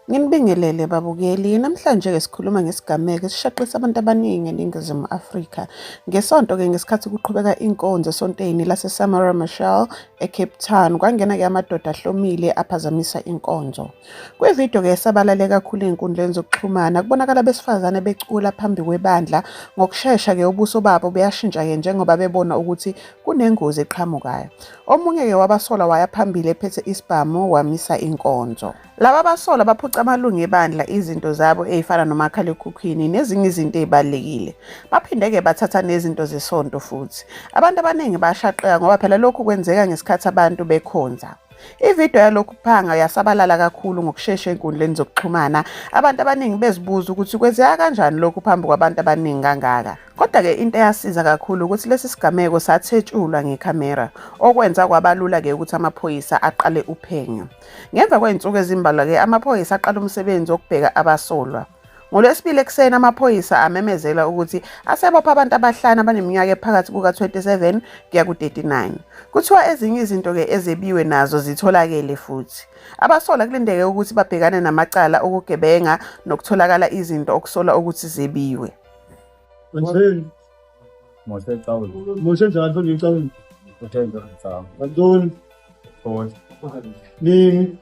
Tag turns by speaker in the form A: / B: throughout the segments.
A: Nginibingelele babukeli, namhlanje-ke sikhuluma ngesigameko esishaqisa abantu abaningi eNingizimu Afrika. Ngesonto-ke ngesikhathi kuqhubeka inkonzo esonteni laseSamora Machel eCape Town, kwangena-ke amadoda ahlomile aphazamisa inkonzo. Kwividiyo-ke esabalale kakhulu ey'nkundleni zokuxhumana, kubonakala abesifazane becula phambi kwebandla, ngokushesha-ke ubuso babo buyashintsha-ke njengoba bebona ukuthi kunengozi eqhamukayo. Omunye-ke wabasolwa waya phambili ephethe isibhamu wamisa inkonzo. Laba basolwa baphuca amalungu ebandla izinto zabo ezifana nomakhalekhukhwini nezinye izinto ezibalulekile. Baphinde-ke bathatha nezinto zesonto futhi. Abantu abaningi bashaqeka ngoba phela lokhu kwenzeka ngesikhathi abantu bekhonza. Ividiyo yalokhu kuphanga yasabalala kakhulu ngokushesha enkundleni zokuxhumana, abantu abaningi bezibuza ukuthi kwenzeka kanjani lokhu phambi kwabantu abaningi kangaka. Kodwa-ke into eyasiza kakhulu ukuthi lesi sigameko sathetshulwa ngekhamera, okwenza kwaba lula-ke ukuthi amaphoyisa aqale uphenyo. Ngemva kwey'nsuku ezimbalwa-ke amaphoyisa aqala umsebenzi wokubheka abasolwa. NgoLwesibili ekuseni amaphoyisa amemezela ukuthi asebopha abantu abahlanu abaneminyaka ephakathi kuka-27 kuya ku-39. Kuthiwa ezinye izinto-ke ezebiwe nazo zitholakele futhi. Abasola kulindeke ukuthi babhekane namacala okugebenga nokutholakala izinto okusolwa ukuthi zebiwe. Moshe. Moshe Tawul. Moshe Tawul from New Tawul. Moshe Tawul. Abdul. Paul. Nini.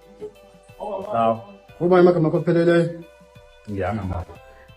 A: Tawul. Uma imagama kophelele. Ngiyanga mama.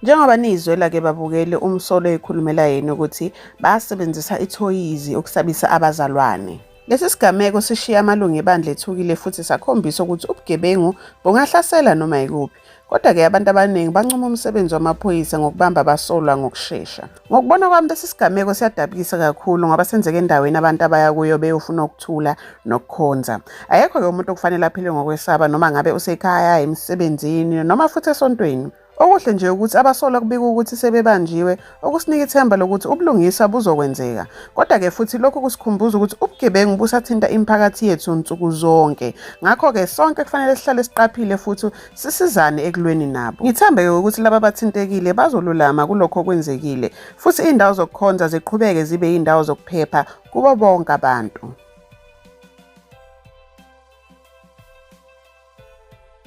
A: Njengoba nizwe lake babukeli umsolo ekhulumela yena ukuthi basebenzisa ithoyizi ukusabisa abazalwane. Lesi sigameko sishiye amalungu ebandla ethukile futhi sakhombisa ukuthi ubugebengu bungahlasela noma yikuphi. Kodwa-ke abantu abaningi bancoma umsebenzi wamaphoyisa ngokubamba abasolwa ngokushesha. Ngokubona kwami lesi sigameko siyadabukisa kakhulu ngoba senzeka endaweni abantu abaya kuyo beyofuna ukuthula nokukhonza. Ayekho-ke umuntu okufanele aphile ngokwesaba noma ngabe usekhaya, emsebenzini noma futhi esontweni. Okuhle nje ukuthi abasolwa kubika ukuthi sebebanjiwe okusinika ithemba lokuthi ubulungisa buzokwenzeka. Kodwa-ke futhi lokhu kusikhumbuza ukuthi ubugebengu busathinta imiphakathi yethu nsuku zonke. Ngakho-ke sonke kufanele sihlale siqaphile futhi sisizane ekulweni nabo. Ngithembe-ke ukuthi laba bathintekile bazolulama kulokho okwenzekile, futhi iy'ndawo zokukhonza ziqhubeke zibe yiy'ndawo zokuphepha kubo bonke abantu.